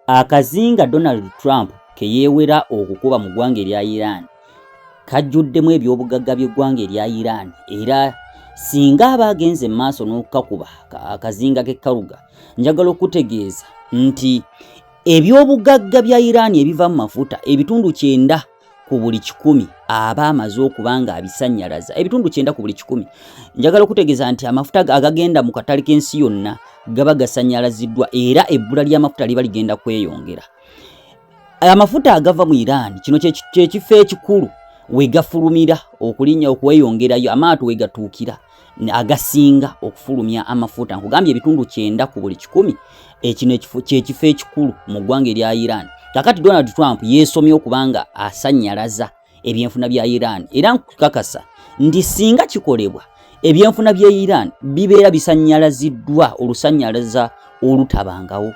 akazinga donald trump ke yeewera okukuba mu ggwanga erya iran kajjuddemu ebyobugagga by'eggwanga erya iran era singa aba agenze mu maaso n'okukakuba akazinga k'ekkaluga njagala okutegeeza nti ebyobugagga bya iran ebiva mu mafuta ebitundu kyenda ku buli kikumi aba amaze okuba nga abisannyalaza ebitundu kyenda ku buli kikumi njagala okutegeeza nti amafuta agagenda mu katale k'ensi yonna gaba gasannyalaziddwa era ebbula ly'amafuta liba ligenda kweyongera amafuta agava mu iran kino kyekifo ekikulu wegafulumira okulinya okweyongerayo amaato wegatuukira agasinga okufulumya amafuta nkugambye ebitundu kyenda ku buli kikumi ekino kyekifo ekikulu mu ggwanga erya iran kakati donald trump yeesomye okuba nga asanyalaza ebyenfuna bya iran era nkukakasa nti singa kikolebwa ebyenfuna bya iran bibeera bisanyalaziddwa olusanyalaza olutabangawo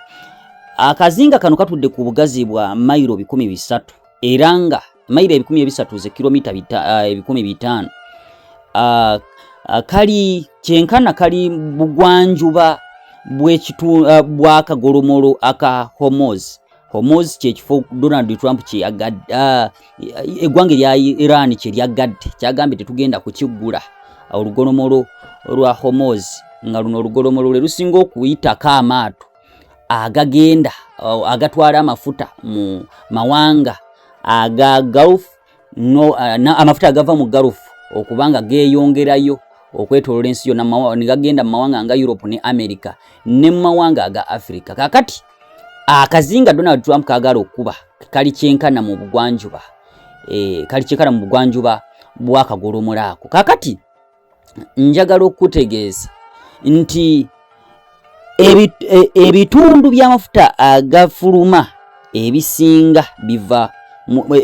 akazinga kano katudde ku bugazi bwa mayiro bikumi bisatu era nga mayiro ebikumi ebisatu ze kilomita ah, ebikumi bitaano ah, ah, kali kyenkana kali bugwanjuba bw'akagolomolo aka homos homos kyekifo donald trump eggwanga erya iran kye lyaggadde kyagambye tetugenda kukiggula olugolomolo lwa homos nga luno olugolomolo lwe lusinga okuyitako amaato agagenda agatwala amafuta mu mawanga aga gulf no, uh, na, amafuta agava mu gulf okubanga geeyongerayo okwetolola ensi yonna ne gagenda mu mawanga nga europe ne america ne mu mawanga aga africa kakati akazinga donald trump kagala okukuba kali kyenkana mu bugwanjuba e, kali kyenkana mu bugwanjuba bwakagolomolaako kakati njagala okukutegeeza nti e, ebitundu by'amafuta agafuluma ebisinga biva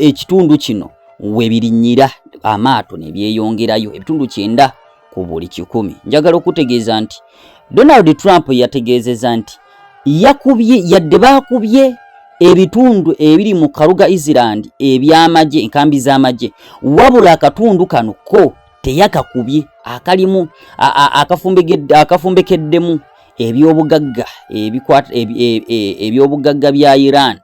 ekitundu kino we birinyira amaato ne byeyongerayo ebitundu kyenda ku buli kikumi njagala okukutegeeza nti donald trump yategeezeza nti yakubye yadde baakubye ebitundu ebiri mu karuga island eby'amagye enkambi z'amagye wabula akatundu kano ko teyakakubye akalimu akafumbekeddemu ebyobugagga e, e, ebyobugagga bya Iran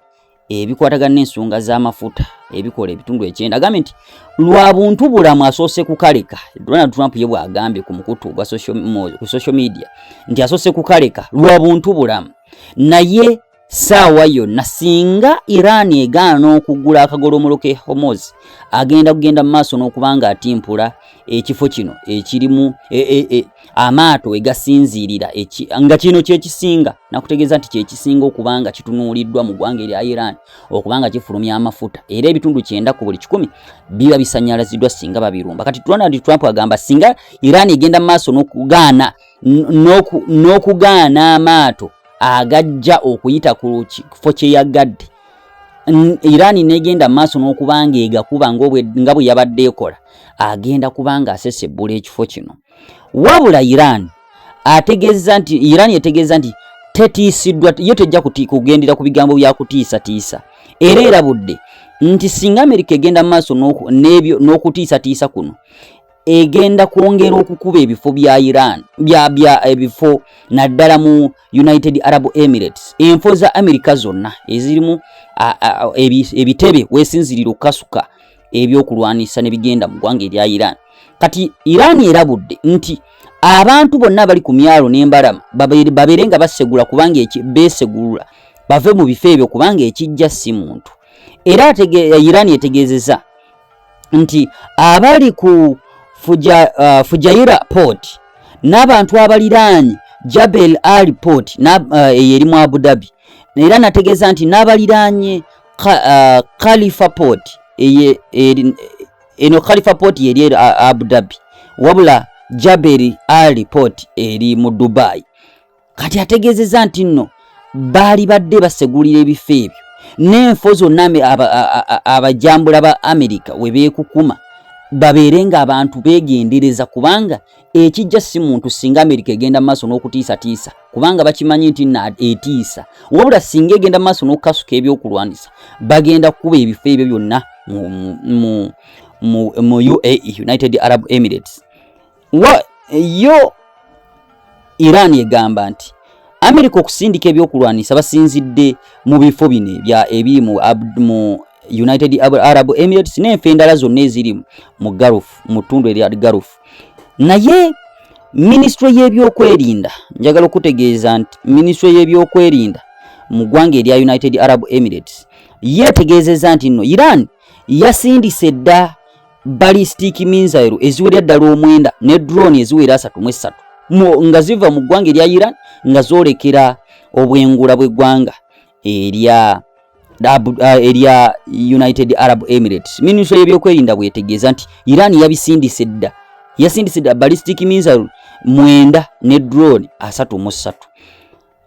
ebikwatagana n'ensonga z'amafuta ebikola ebitundu ekyenda agambye nti lwa buntu bulamu asoose kukaleka Donald Trump ye bw'agambye ku mukutu gwa social media nti asoose kukaleka lwa buntu bulamu naye saawa yonna singa iran egaana okugula akagolomolo ke homos agenda kugenda mumaaso n'okuba nga atimpula ekifo kino ekirimu e, e, e, amaato wegasinziirira nga kino kyekisinga nakutegeeza nti kyekisinga okuba nga kitunuuliddwa mu ggwanga erya iran okuba nga kifulumya amafuta era ebitundu kyenda ku buli kikumi biba bisanyalaziddwa singa babirumba kati ronald trump agamba singa iran egenda mumaaso n'okugaana amaato agajja okuyita ku kifo kye yagadde Iran negenda maaso n'okuba ng'egakuba nga bwe yabadde ekola agenda kuba ng'asesebbula ekifo kino wabula Iran ategeeza nti Iran etegeeza nti tetiisiddwa yo tejja kugendera ku bigambo bya kutiisatiisa era erabudde nti singa Amerika egenda maaso n'okutiisatiisa kuno egenda kwongera okukuba ebifo bya Iran bya bya ebifo eh, naddala mu United Arab Emirates enfo za America zonna ezirimu ebitebe wesinzirira okukasuka ebyokulwanisa ne bigenda mu ggwanga erya Iran kati Iran erabudde nti abantu bonna abali ku myalo n'embalama babeere nga basegula kubanga beesegulula bave mu bifo ebyo kubanga ekijja si muntu era Iran etegeezeza nti abali ku fuja, uh, Fujaira port n'abantu abaliraanye Jabel Ali port uh, eyo eri mu Abu Dhabi era nategeeza nti n'abaliraanye uh, Khalifa port eye, eri, eno Khalifa port yeri eri Abu Dhabi wabula Jabel Ali port eri mu Dubai kati ategeezezza nti nno baali badde basegulira ebifo ebyo n'enfo zonna abajambula ba amerika we beekukuma babeere ng'abantu beegendereza kubanga ekijja si muntu singa amerika egenda mu maaso n'okutiisatiisa kubanga bakimanyi nti na etiisa wabula singa egenda mu maaso n'okukasuka ebyokulwanyisa bagenda kukuba ebifo ebyo byonna mu uae united arab emirates Wa, yo Iran egamba nti Amerika okusindika ebyokulwanyisa basinzidde mu bifo bino ebya ebi mu, mu United Arab Emirates n'enfa endala zonna eziri mu Gulf mu ttundu erya Gulf naye minisitule y'ebyokwerinda njagala okutegeeza nti minisitule y'ebyokwerinda mu ggwanga erya United Arab Emirates yeetegeezezza nti nno Iran yasindise dda ballistic missile eziwerera ddala omwenda ne drone eziwera asatu mu essatu nga ziva mu ggwanga erya iran nga zoolekera obwengula bw'eggwanga erya erya united arab emirates minisitule y'ebyokwerinda bwetegeeza nti iran yabisindise dda yasindise dda ballistic missile mwenda ne drone asatu mu ssatu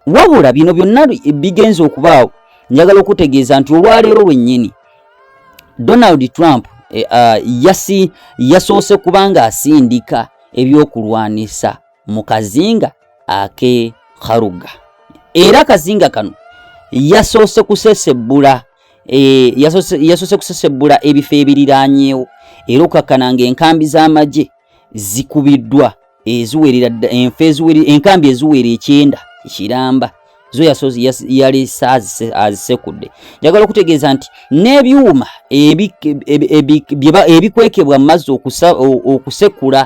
wabula bino byonna bigenze okubaawo njagala okutegeeza nti olwaleero lwennyini donald trump eh, ah, yasi yasoose kubanga asindika ebyokulwanisa mu kazinga ake kharuga era kazinga kano yasoose kusesebbula eh, yasoose kusesebbula ebifo ebiriranyeewo era okakkananga enkambi z'amagye zikubiddwa eziwerera enfa enkambi eziwera ekyenda ekiramba zo yasozi yali azisekudde njagala okutegeeza nti n'ebyuma ebikwekebwa mu mazzi okusekula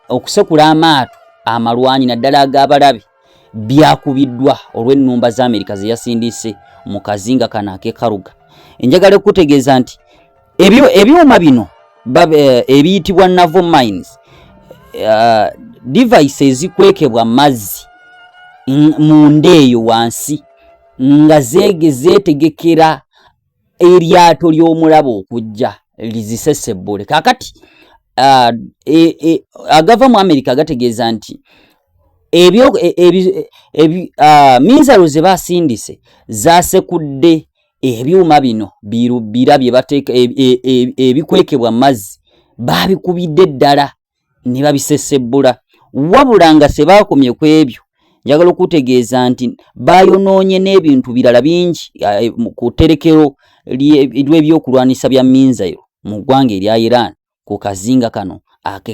okusekula amaato amalwanyi naddala ag'abalabi byakubiddwa olw'ennumba za amerika ze yasindiise mu kazinga kano akekaruga enjagala okutegeeza nti ebyuma bino eh, ebiyitibwa navo mines eh, device ezikwekebwa mazzi mu nda eyo wansi nga zeege zeetegekera eryato ly'omulaba okujja lizisesebbule kakati uh, e, e, agava mu amerika gategeeza nti ebyo e, e, e, uh, minzalo ze basindise zasekudde ebyuma bino birubira bye bateeka ebikwekebwa e, e, mazzi babikubidde ddala ne babisesebbula wabula nga sebaakomye ku ebyo njagala okutegeeza nti baayonoonye n'ebintu birala bingi eh, ku tterekero lw'ebyokulwanyisa bya minzairo mu ggwanga erya iran ku kazinga kano ake